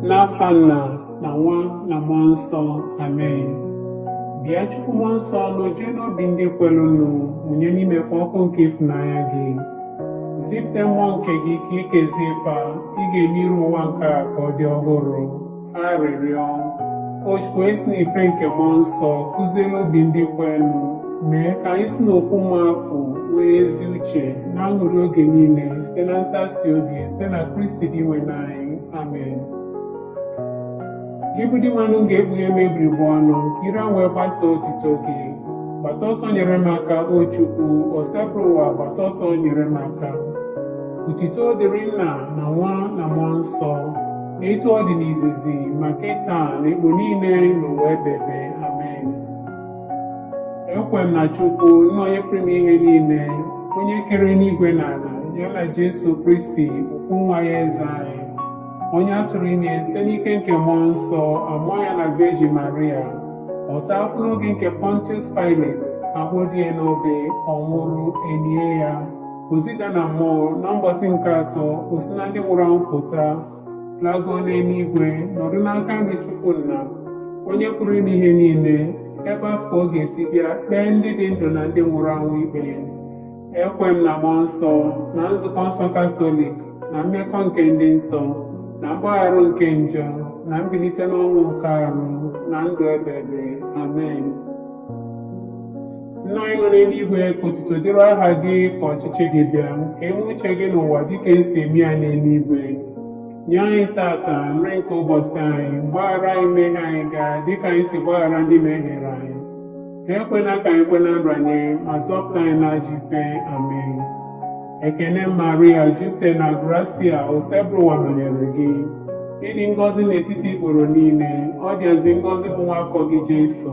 n'afa nna na nwa na mmụọ nsọ amen bịa chukwu mmụọ nsọ nojue n'obi ndị kwerenụ mụnye n'ime fa ọkụ nke ịfụnanya gị zipụta mmụọ nke gị ka e kezie fa ị ga-eme iru ụwa nke a ka ọ dị ọhụrụ arịrịọ o chukwu onye si n'ife nke mmụọ nsọ kụziere obi ndị kwerenụ mee ka anyị si n'otu mmụọ afụ nwee ezi uche na aṅụrị oge niile site na ntasi obi site na kristi dinwenụ anyị amen gị bụ dinwenụ m ga-ekpughe m ebiri bụ ọnụ ire m wee gbasa otito gị gbata ọsọ nyere m aka o chukwu osebụrụwa gbata ọsọ nyere m aka otito dịrị nna na nwa na mmụọ nsọ etu ọ dị n'izizi ma kịta na igbo niile n'ụwa ebebe amen ekwe m na chukwu nna onye pụrụ ime ihe niile onye kere enigwe na ala ya na jesu kristi otu nwa ya eze anyị onye a tụrụ ime site n'ike nke mmụọ nsọ a mụọ ya na vejin maria ọ taa afụfụ n'oge nke pontius pilate a kpọdo ya n'obe ọ nwụrụ e lie ya O zida na mmụọ na mbọsị nke atọ o si na ndị nwụrụ anwụ pụta lago n'eluigwe nọdụ n'aka nri Chukwu Nna onye pụrụ ime ihe niile ebe afụ ka ọ ga-esi bịa kpee ndị dị ndụ na ndị nwụrụ anwụ ikpe ekwe m na mmụọ nsọ na nzukọ nsọ katọlik na mmekọ nke ndị nsọ na mgbaghara nke njọ na mbilite n'ọnwụ nke arụ na ndụ ebebe amen Nna anyị nọ n'eluigwe ka otuto dịrị aha gị ka ọchịchị gị bịa ka e mee uche gị n'ụwa dịka e si eme ya n'eluigwe nye anyị tata nri nke ụbọsị anyị gbaghara anyị mmehie anyị ga dịka anyị si gbaghara ndị mehiere anyị ekwela ka anyị kwe na nranye ma zọpụta anyị n'ajọ ife amen ekene maria jupụta na grasia osebụrụwa nọnyere gị ị dị ngọzi n'etiti ikporo niile ọ dịazị ngọzi bụ nwa afọ gị jesu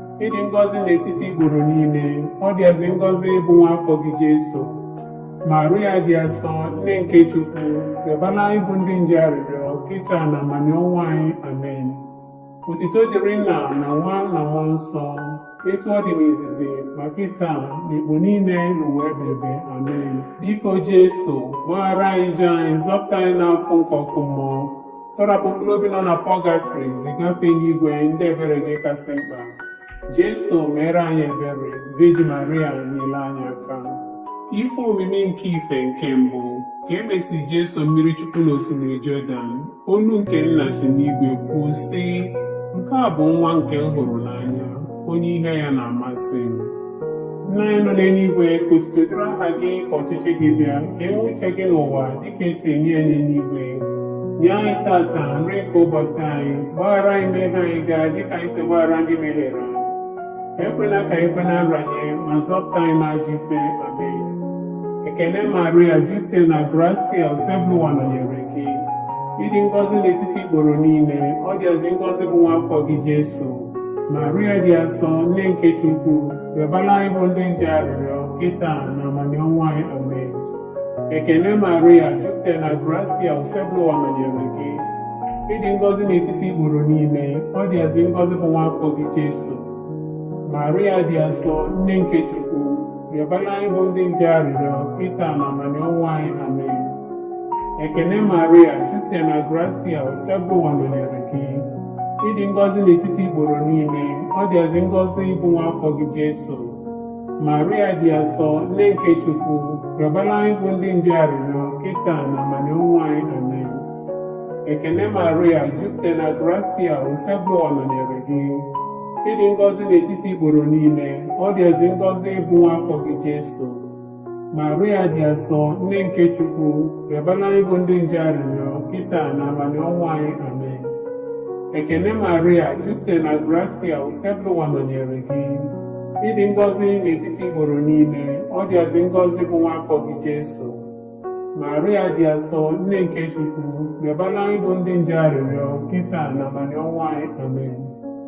ị dị ngọzi n'etiti ikporo niile ọ dịazị ngọzi bụ nwa afọ gị Jesu Maria dị asọ nne nke Chukwu yọbara anyị bụ ndị njọ arịrịọ kịta na amanị ọnwụ anyị amen otito dịrị nna na nwa na mmụọ nsọ etu ọ dị n'izizi ma kịta na igbo niile n'ụwa ebebe amen biko Jesu gbaghara anyị njọ anyị zọpụta anyị n'afụfụ nke ọkụ mmụọ Tọrapụ mkpụrụ obi nọ na pọgatọrị ziga fa enigwe ndị ebere gị kasị mkpa. Jesu meere anyị ebere, Virgin Maria nyere anyị aka. Ife omimi nke ife nke mbụ ka e mesịrị Jesu mmiri Chukwu n'osimiri Jọdan, olu nke nna si n'igwe kwuo, sị, Nke a bụ nwa nke m hụrụ n'anya. onye ihe ya na-amasị m nna anyị nọ n'eluigwe ka otuto dịrị aha gị ka ọchịchị gị bịa ka e mee uche gị n'ụwa dịka esi eme ya n'eluigwe nye anyị tata nri nke ụbọchị anyị gbaghara anyị mmehie anyị ga dịka anyị si gbaghara ndị mehiere anyị ekwela ka ekwe na nranye ma zọpụta anyị n'ajọ ife amen ekene maria jupụta na grasia osebụwa nọnyere gị ị dị ngọzi n'etiti ikporo niile ọ dịazị ngọzi bụ nwa afọ gị jesu Maria dị asọ nne nke Chukwu rịọbara anyị bụ ndị njọ arịrịọ kịta na amanị ọnwụ anyị amen ekene Maria jupụtara na grasia osebụwa nọnyere gị ị dị ngọzi n'etiti ikporo niile ọ dịazị ngọzi bụ nwa afọ gị Jesu Maria dị asọ nne nke Chukwu rịọbara anyị bụ ndị njọ arịrịọ kịta na amanị ọnwụ anyị amen ekene Maria jupụtara na grasia osebụwa nọnyere gị ị dị ngọzi n'etiti ikporo niile ọ dịazị ngọzi bụ nwa afọ gị Jesu Maria dị asọ nne nke Chukwu rịọbara anyị bụ ndị njọ arịrịọ kịta na amanị ọnwụ anyị amen ekene Maria jupụta na grasia osebụwa nọnyere gị ị dị ngọzi n'etiti ikporo niile ọ dịazị ngọzi bụ nwa afọ gị Jesu Maria dị asọ, nne nke Chukwu, rịọbara anyị bụ ndị njọ arịrịọ, kịta na amanị ọnwụ anyị. Amen. Ekene Maria, jupụtara na grasia, Osebụwa nọnyere gị. Ị dị ngọzi n'etiti ikporo niile, ọ dịazị ngọzi bụ nwa afọ gị Jesu. Maria dị asọ, nne nke Chukwu, rịọbara anyị bụ ndị njọ arịrịọ, kịta na amanị ọnwụ anyị. Amen.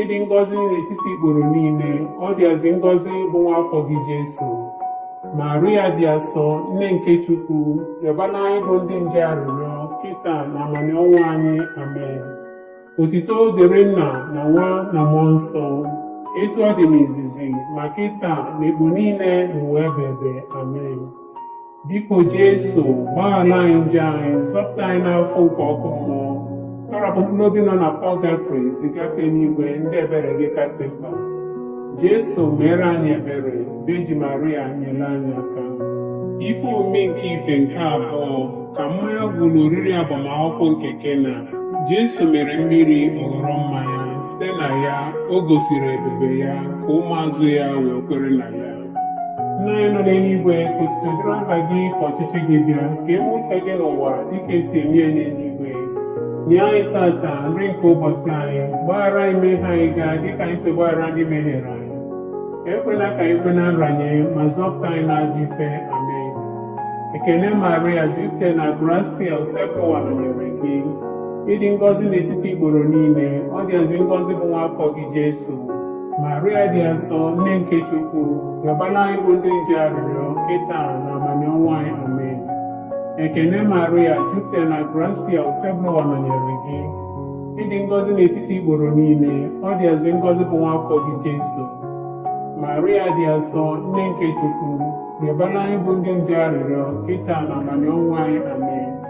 ị dị ngọzi n'etiti ikporo niile ọ dịazị ngọzi bụ nwa afọ gị Jesu Maria dị asọ nne nke Chukwu rịọbara anyị bụ ndị njọ arịrịọ kịta na amanị ọnwụ anyị amen otito dịrị nna na nwa na mmụọ nsọ etu ọ dị n'izizi ma kịta na ekpo niile na ụwa ebebe amen Biko Jesu, gbaghara anyị njọ anyị, zọpụta anyị n'afụfụ nke ọkụ mmụọ. Tọrapụ mkpụrụ obi nọ na pọgatrị ziga fa n'igwe ndị ebere gị kasị mkpa. Jesu, meere anyị ebere, Vejin Maria nyere anyị aka. Ife omimi nke ife nke abụọ ka mmanya gwụrụ n'oriri agbamakwụkwọ nke Kena. Jesu mere mmiri ọ ghọrọ mmanya, site na ya o gosiri ebube ya ka ụmụazụ ya wee kwere na ya. Nna anyị nọ n'eluigwe ka otuto dịrị aha gị ka ọchịchị gị bịa ka e mee uche gị n'ụwa dịka esi eme ya n'eluigwe nye anyị tata nri nke ụbọchị anyị gbaghara anyị mmehie anyị ga dịka anyị si gbaghara ndị mehiere anyị ekwela ka anyị kwe na nranye ma zọpụta anyị n'ajọ ife amen ekene maria jupụta na grasia osebụwa nọnyere gị ị dị ngọzi n'etiti ikporo niile ọ dịazị ngọzi bụ nwa afọ gị jesu Maria dị asọ nne nke Chukwu rịọbala anyị bụ ndị njọ arịrịọ kịta na amanị ọnwụ anyị amen ekene Maria jupụta na grasia osebụlụwa nọnyere gị ị dị ngọzi n'etiti ikporo niile ọ dịazị ngọzi bụ nwa afọ gị Jesu Maria dị asọ nne nke Chukwu rịọbala anyị bụ ndị njọ arịrịọ kịta na amanị ọnwụ anyị amen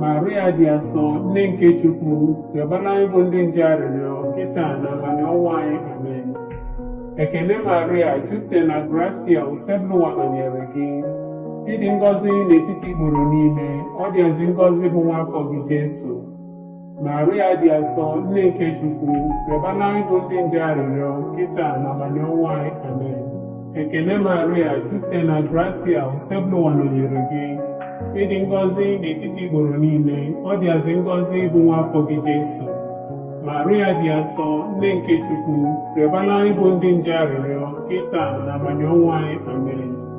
Maria dị asọ nne nke Chukwu rịọbara anyị bụ ndị njọ arịrịọ kịta na amanị ọnwụ anyị amen ekene Maria jupụta na grasia osebụlụwa nọnyere gị ị dị ngọzi n'etiti ikporo niile ọ dịazị ngọzi bụ nwa afọ gị Jesu Maria dị asọ nne nke Chukwu rịọbala anyị bụ ndị njọ arịrịọ kịta na amanị ọnwụ anyị amen ekene Maria jupụta na grasia osebụlụwa nọnyere gị ị dị ngọzi n'etiti ikporo niile ọ dịazị ngọzi bụ nwa afọ gị Jesu Maria dị asọ nne nke Chukwu rịọbala anyị bụ ndị njọ arịrịọ kịta na amanị ọnwụ anyị amen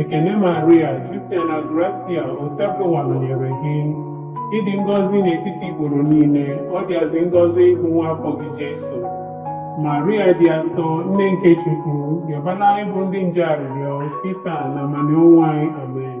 Ekene Maria, jupụtara na grasia, Osebụlụwa nọnyere gị. Ị dị ngọzi n'etiti ikporo niile, ọ dịazị ngọzi bụ nwa afọ gị Jesu. Maria dị asọ, nne nke Chukwu, yọbala anyị bụ ndị njọ arịrịọ, kịta na amanị ọnwụ anyị. Amen.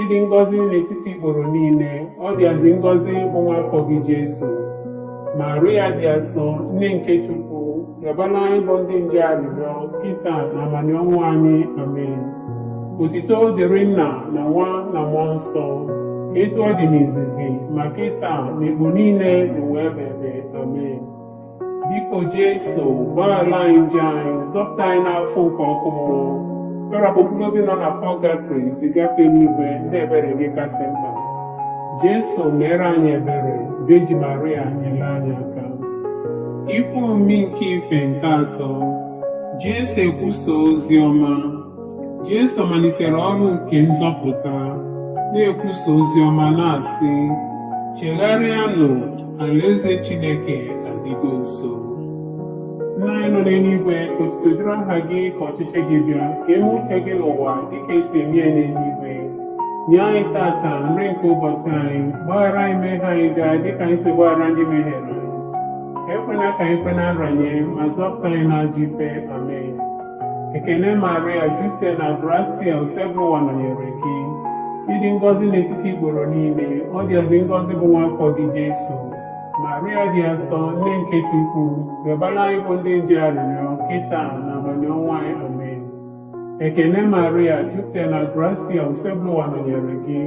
ị dị ngọzi n'etiti ikporo niile ọ dịazị ngọzi bụ nwa afọ gị Jesu Maria dị asọ nne nke Chukwu rịọbala anyị bụ ndị njọ arịrịọ kịta na amanị ọnwụ anyị amen otito dịrị nna na nwa na mmụọ nsọ etu ọ dị n'izizi ma kịta na mgbe niile na ụwa ebebe amen Biko Jesu, gbaghara anyị njọ anyị, zọpụta anyị n'afụfụ nke ọkụ mmụọ. Kpọrọpụ mkpụrụ obi nọ na pọgatrị zigafe n'enuigwe ndị ebere gị kasị mkpa. Jesu meere anyị ebere, Vejin Maria nyere anyị aka. Ikwu omi nke ife nke atọ, Jesu ekwusa ozi ọma. Jesu malitere ọrụ nke nzọpụta, na-ekwusa ozi ọma na-asị, Chegharịanụ, alaeze Chineke adịgo nso. Nna anyị nọ n'enuigwe, ka otuto dịrị aha gị, ka ọchịchị gị bịa, ka e me uche gị n'ụwa dịka e si eme ya n'enuigwe. Nye anyị tata nri nke ụbọsị anyị, gbaghara anyị mmehie anyị ga dịka anyị si gbaghara ndị mehiere anyị. Ekwena ka anyị kwe na nranye, ma zọpụta anyị n'ajọ ife. Amen. Ekene Maria jupụta na grasia Osebụlụwa nọnyere gị. Ị dị ngọzi n'etiti ikporo niile, ọ dịazị ngọzi bụ nwa afọ gị Jesu. Maria dị asọ, nne nke Chukwu, rịọbara anyị bụ ndị njọ arịrịọ kịta na amanị ọnwụ anyị amen. Ekene Maria jupụtara na grasia Osebụlụwa nọnyere gị.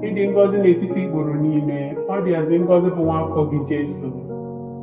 Ị dị ngọzi n'etiti ikporo niile, ọ dịazị ngọzi bụ nwa afọ gị Jesu.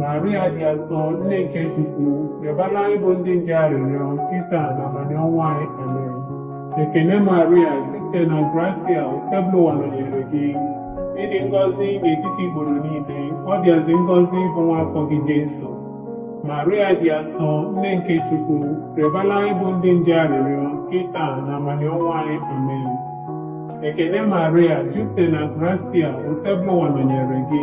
Maria dị asọ nne nke Chukwu rịọbara anyị bụ ndị njọ arịrịọ kịta na amanị ọnwụ anyị amen ekene Maria jupụta na grasia Osebụlụwa nọnyere gị ị dị ngọzi n'etiti ikporo niile ọ dịazị ngọzi bụ nwa afọ gị Jesu Maria dị asọ nne nke Chukwu rịọbara anyị bụ ndị njọ arịrịọ kịta na amanị ọnwụ anyị amen ekene Maria jupụta na grasia Osebụlụwa nọnyere gị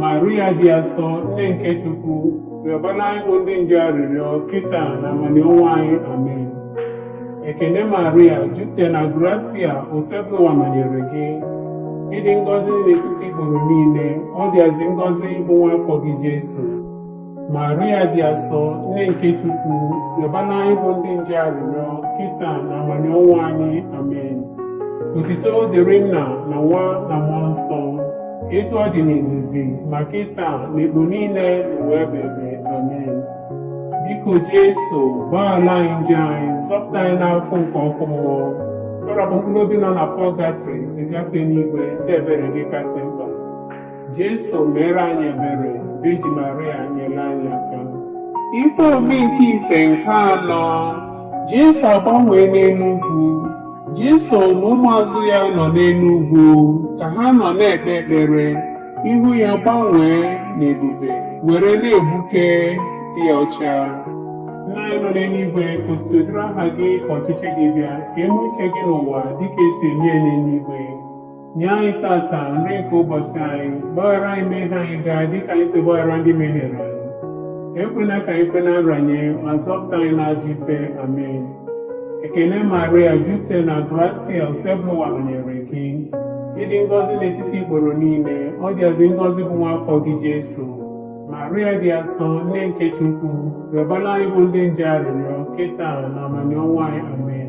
Maria dị asọ nne nke Chukwu rịọbara anyị bụ ndị njọ arịrịọ kịta na amanị ọnwụ anyị amen ekene Maria jupụta na grasia Osebụlụwa nọnyere gị ị dị ngọzi n'etiti ikporo niile ọ dịazị ngọzi bụ nwa afọ gị Jesu Maria dị asọ nne nke Chukwu yọbara anyị bụ ndị njọ arịrịọ kịta na amanị ọnwụ anyị amen otito dịrị nna na nwa na mmụọ nsọ etu ọ dị n'izizi ma kịta na ekpo niile n'ụwa ebebe amen biko Jesu gbaghara anyị njọ anyị zọpụta anyị n'afụfụ nke ọkụ mmụọ tọrọpụ mkpụrụ obi nọ na pọgatrị ziga fa n'igwe ndị ebere gị kasị mkpa Jesu mere anyị ebere, Virgin Maria nyere anyị aka. Ife omimi nke ife nke anọ, Jesu agbanwee n'elu ugwu. Jesu na ụmụazụ ya nọ n'elu ugwu ka ha nọ na-ekpe ekpere, ihu ya gbanwee n'ebube were na-egbuke dị ọcha. Nna anyị nọ n'eluigwe, ka otuto dịrị aha gị, ka ọchịchị gị bịa, ka e mee uche gị n'ụwa dịka e si eme ya n'eluigwe. Nye anyị tata nri nke ụbọchị anyị, gbaghara anyị mmehie anyị ga dịka anyị si gbaghara ndị mehiere anyị. Ekwela ka anyị kwe na nranye, ma zọpụta anyị n'ajọ ife. Amen. Ekene Maria, jupụta na grasia, Osebụlụwa nọnyere gị. Ị dị ngọzi n'etiti ikporo niile, ọ dịazị ngọzi bụ nwa afọ gị Jesu. Maria dị asọ, nne nke Chukwu, rịọbara anyị bụ ndị njọ arịrịọ, kịta na amanị ọnwụ anyị. Amen.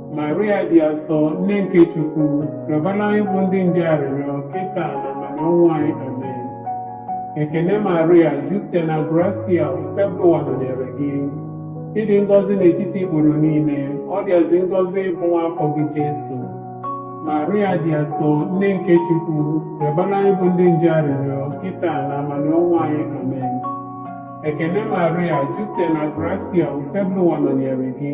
Maria dị asọ nne nke Chukwu rịọbara anyị bụ ndị njọ arịrịọ kịta na amanị ọnwụ anyị amen ekene Maria jupụta na grasia Osebụlụwa nọnyere gị ị dị ngọzi n'etiti ikporo niile ọ dịazị ngọzi bụ nwa afọ gị Jesu Maria dị asọ nne nke Chukwu rịọbara anyị bụ ndị njọ arịrịọ kịta na amanị ọnwụ anyị amen ekene Maria jupụta na grasia Osebụlụwa nọnyere gị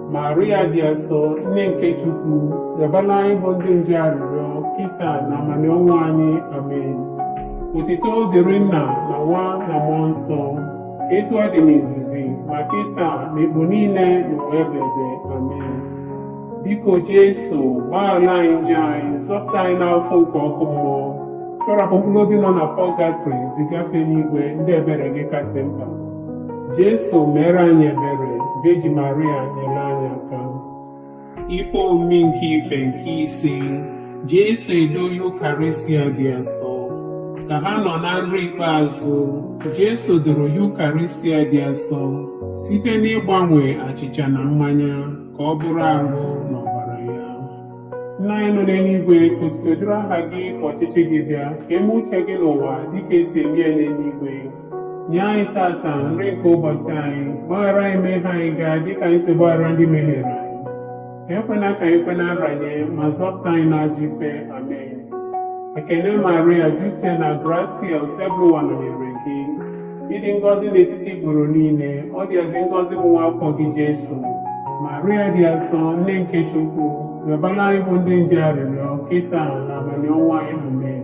Maria dị asọ nne nke Chukwu yọbala anyị bụ ndị njọ arịrịọ kịta na amanị ọnwụ anyị amen otito dịrị nna na nwa na mmụọ nsọ etu ọ dị n'izizi ma kịta na ikpo niile na ụwa ebebe amen biko jesu gbaghara anyị njọ anyị zọpụta anyị n'afụfụ nke ọkụ mmụọ tọrapụ mkpụrụ obi nọ na pọgatrị zigafe n'igwe ndị ebere gị kasị mkpa Jesu meere anyị ebere, Veji Maria nyere anyị aka. Ife omimi nke ife nke ise, Jesu edo Yukarịsịa dị asọ. Ka ha nọ na nri ikpeazụ, Jesu doro Yukarịsịa dị asọ site n'ịgbanwe achịcha na mmanya ka ọ bụrụ arụ na ọbara ya. Nna anyị nọ n'eluigwe, otito dịrị aha gị ka ọchịchị gị bịa, ka e mee uche gị n'ụwa dịka e si eme ya n'eluigwe. Nye anyị tata nri nke ụbọsị anyị, gbaghara anyị mmehie anyị ga dị ka anyị si gbaghara ndị mehiere anyị. Ekwena ka anyị kwe na nranye, ma zọpụta anyị n'ajọ ife. Amen. Ekene Maria, jupụta na grasia, Osebụlụwa nọnyere gị. Ị dị ngọzi n'etiti ikporo niile, ọ dịazị ngọzi bụ nwa afọ gị Jesu. Maria dị asọ, nne nke Chukwu, rịọbara anyị bụ ndị njọ arịrịọ, kịta na amanị ọnwụ anyị. Amen.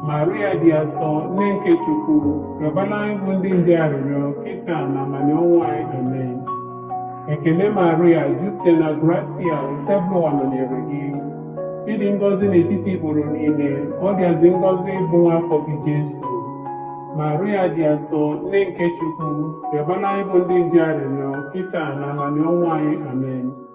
Maria dị asọ nne nke Chukwu rịọbala anyị bụ ndị njọ arịrịọ kịta na amanị ọnwụ anyị amen ekene Maria jupụta na grasia osebụlụwa nọnyere gị ị dị ngọzi n'etiti ikporo niile ọ dịazị ngọzi bụ nwa afọ gị Jesu Maria dị asọ nne nke Chukwu rịọbala anyị bụ ndị njọ arịrịọ kịta na amanị ọnwụ anyị amen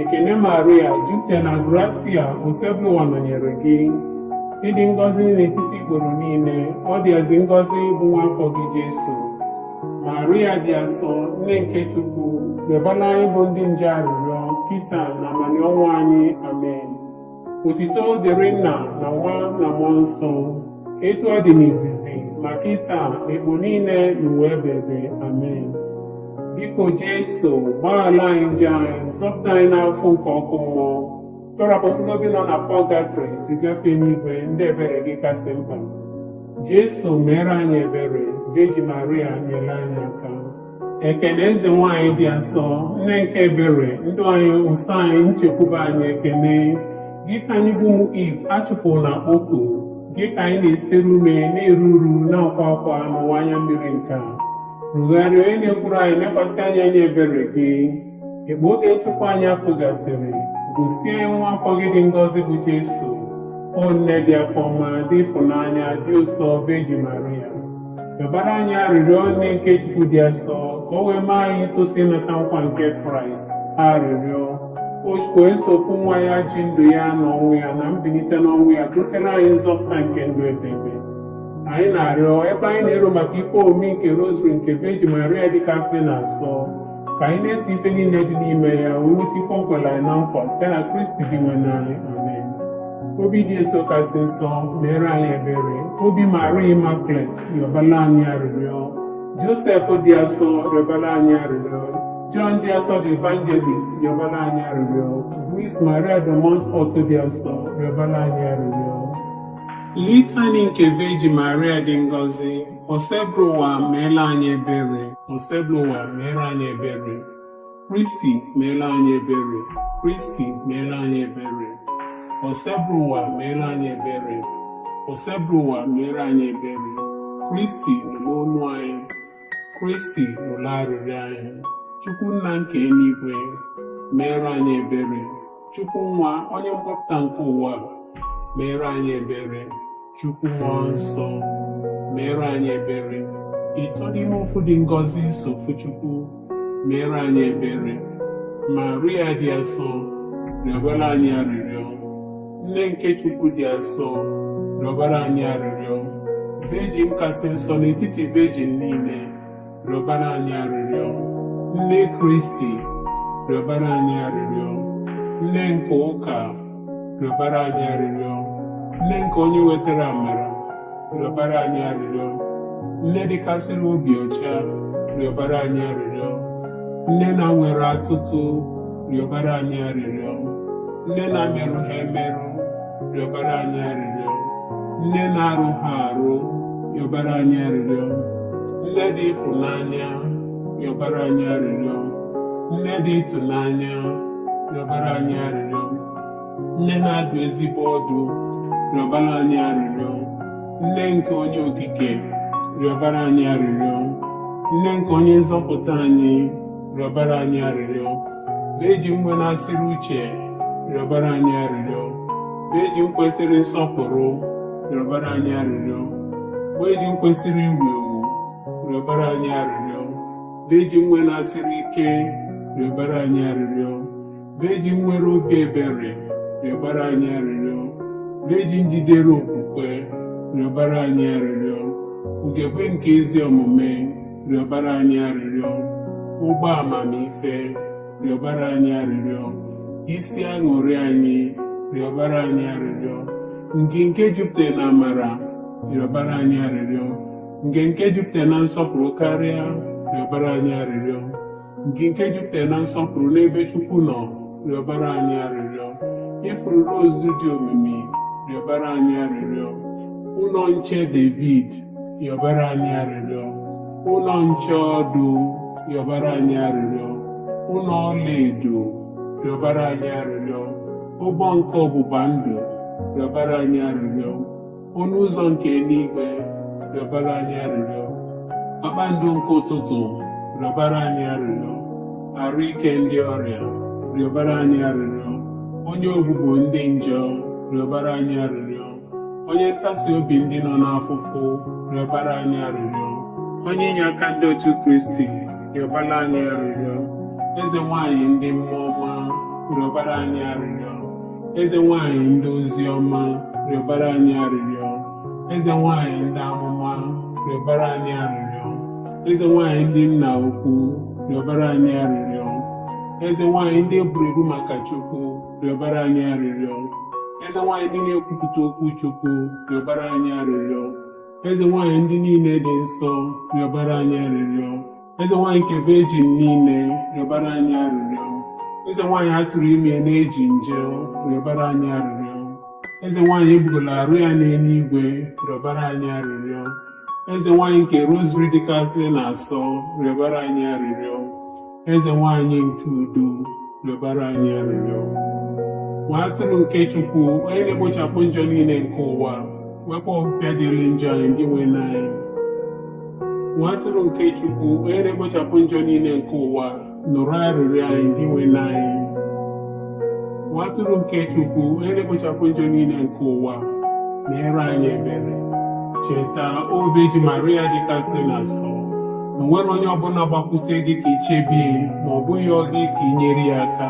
Ekene Maria, jupụta na grasia, Osebụlụwa nọnyere gị. Ị dị ngọzi n'etiti ikporo niile, ọ dịazị ngọzi bụ nwa afọ gị Jesu. Maria dị asọ, nne nke Chukwu, yọbala anyị bụ ndị njọ arịrịọ, kịta na amanị ọnwụ anyị. Amen. Otito dịrị Nna na Nwa na Mmụọ Nsọ, etu ọ dị n'izizi ma kịta na ikpo niile n'ụwa ebebe amen biko jesu gbaghara anyị njọ anyị zọpụta anyị n'afụfụ nke ọkụ mmụọ tọrapụ mkpụrụ obi nọ na pọgatrị zigafe n'igwe ndị ebere gị kasị mkpa jesu meere anyị ebere veji maria nyere anyị aka ekene eze nwanyị dị asọ nne nke ebere ndụ anyị ụsọ anyị nchekwube anyị ekene gị ka anyị bụ ụmụ iv a chụpụrụ na-akpọku gị ka anyị na-ezere ume na-eru uru na-akwa akwa n'ụwa anya mmiri nke a tụgharịa onye na-ekwuru anyị nekwasị anyị anya ebere gị Mgbe oge nchụpụ anyị afụ gasịrị, gosi anyị nwa afọ gị dị ngọzi bụ Jesu, O nne dị afọ ọma, dị ịfụnanya, dị ụsọ, Vejin Maria. Rịọbara anyị arịrịọ nne nke Chukwu dị asọ, ka o wee mee anyị itosi ịnata nkwa nke Kraịst. Arịrịọ. O Chukwu onye sọ ofu nwa ya ji ndụ ya na ọnwụ ya na mbilite n'ọnwụ ya butere anyị nzọpụta nke ndụ ebebe. Anyị na-arịọ ebe anyị na-ero maka ife omimi nke Rosary nke Vejin Maria dịkasị na asọ ka anyị na-eso ife niile dị n'ime ya wee nweta ife o kwere anyị na nkwa site na kristi dinwenu anyị amen obi jeso kasị nsọ meere anyị ebere obi maria immaculate rịọbala anyị arịrịọ josef dị asọ rịọbala anyị arịrịọ John dị asọ the evangelist rịọbala anyị arịrịọ Louis Maria de Montfort dị asọ rịọbala anyị arịrịọ Litany nke Virgin Maria dị ngọzi Osebụrụ ụwa meela anyị ebere. Osebụrụ ụwa meela anyị ebere. Kristi meela anyị ebere. Kristi meela anyị ebere. Osebụrụ ụwa meela anyị ebere. Osebụrụ ụwa meela anyị ebere. Kristi nụrụ onu anyị. Kristi nụrụ arịrịọ anyị. Chukwu nna nke eluigwe meere anyị ebere. Chukwu nwa onye mgbapụta nke ụwa meere anyị ebere. Chukwu Mmụọ Nsọ, meere anyị ebere. Ịtọ n'ime ofu dị ngọzi sọ ofu Chukwu, meere anyị ebere. Maria dị asọ, rịọbara anyị arịrịọ. Nne nke Chukwu dị asọ, rịọbara anyị arịrịọ. Virgin kasị nsọ n'etiti virgin niile, rịọbara anyị arịrịọ nne kristi rịọbara anyị arịrịọ nne nke ụka rịọbara anyị arịrịọ nne nke onye wetara amara rịọbara anyị arịrịọ nne dịkasịrị obi ọcha rịọbara anyị arịrịọ nne na-enweghị atụtụ rịọbara anyị arịrịọ nne na-emerụghị emerụ rịọbara anyị arịrịọ nne na-arụghị arụ rịọbara anyị arịrịọ nne dị ịfụnanya rịọbara anyị arịrịọ nne dị ịtụnanya rịọbara anyị arịrịọ nne na-adụ ezigbo ọdụ rịọbara anyị arịrịọ nne nke onye okike rịọbara anyị arịrịọ nne nke onye nzọpụta anyị rịọbara anyị arịrịọ virgin nwenasịrị uche rịọbara anyị arịrịọ virgin kwesịrị nsọpụrụ rịọbara anyị arịrịọ virgin kwesịrị iwu ewu rịọbara anyị arịrịọ virgin nwenasịrị ike rịọbara anyị arịrịọ vejin nwere obi ebere rịọbara anyị arịrịọ vejin jidere okwukwe rịọbara anyị arịrịọ ugegbe nke ezi omume rịọbara anyị arịrịọ ukpo amamife rịọbara anyị arịrịọ isi aṅụrị anyị rịọbara anyị arịrịọ ngị nke jupụtara na amara rịọbara anyị arịrịọ ngị nke jupụtara na nsọpụrụ karịa rịọbara anyị arịrịọ ngị nke jupụtara na nsọpụrụ n'ebe Chukwu nọ rịọbara anyị arịrịọ ifuru rozu dị omimi rịọbara anyị arịrịọ ụnọ nche David rịọbara anyị arịrịọ ụnọ nche ọdụ rịọbara anyị arịrịọ ụnọ ọlaedo rịọbara anyị arịrịọ ụgbọ nke ọgbụgba ndụ rịọbara anyị arịrịọ ọnụ ụzọ nke enuigwe rịọbara anyị arịrịọ kpakpando nke ụtụtụ rịọbara anyị arịrịọ arụ ike ndị ọrịa rịọbara anyị arịrịọ onye ogbugbo ndị njọ rịọbara anyị arịrịọ onye ntasi obi ndị nọ n'afụfụ rịọbara anyị arịrịọ onye inye aka ndị otu kristi rịọbara anyị arịrịọ eze nwanyị ndị mmụọ ọma rịọbara anyị arịrịọ eze nwanyị ndị ozi ọma rịọbara anyị arịrịọ eze nwanyị ndị amụma rịọbara anyị arịrịọ eze nwanyị ndị nna ukwu rịọbara anyị arịrịọ eze nwanyị ndị e gburu egbu maka chukwu rịọbara anyị arịrịọ eze nwanyị ndị na-ekwupụta okwu chukwu rịọbara anyị arịrịọ eze nwanyị ndị niile dị nsọ rịọbara anyị arịrịọ eze nwaanyị nke vejin niile rịọbara anyị arịrịọ eze nwaanyị a tụrụ ime na-ejighị njọ rịọbara anyị arịrịọ eze nwaanyị ebugola arụ ya n'enuigwe rịọbara anyị arịrịọ eze nwaanyị nke rozarị dịkasịrị asọ rịọbara anyị arịrịọ eze nwaanyị nke udo rịọbara anyị arịrịọ nwa atụrụ nke chukwu onye na-ekpochapụ njọ niile nke ụwa wepụ ọpịpịa dịrị njọ anyị dinwenụ anyị nwa atụrụ nke Chukwu onye na-ekpochapụ njọ niile nke ụwa nụrụ arịrịọ anyị Dinwenụ anyị nwa atụrụ nke Chukwu onye na-ekpochapụ njọ niile nke ụwa meere anyị ebere cheta o Virgin Maria dịkasịrị asọ na o nwerọ onye ọbụla gbakwute gị ka i chebe ya ma ọ bụ yọọ gị ka i nyere ya aka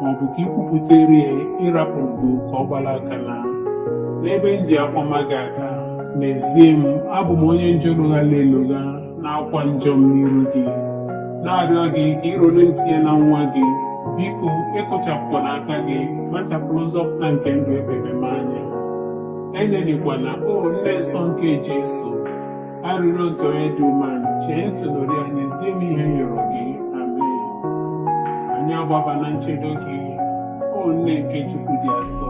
ma ọ bụ ka i kwupụtere ya ị rapụ mbụ ka ọ gbara aka naa n'ebe m ji afọma gị aka N'ezie m, abụ m onye njọ loghara elogha na-akwa njọ m n'iru gị, na-arịọ gị ka ị rọrọ m tinye na nwa gị, biko ekụchapụkwana aka gị, kpachapụrụ nzọpụta nke ndụ ebebe m anya. Elelịkwana, o nne nsọ nke Jesu, arịrịọ nke onye dị umeala, chee ntị n'olu ya, nyezie m ihe m rịọrọ gị. Amen. Anyị agbaba na nchedo gị, o nne nke Chukwu dị asọ.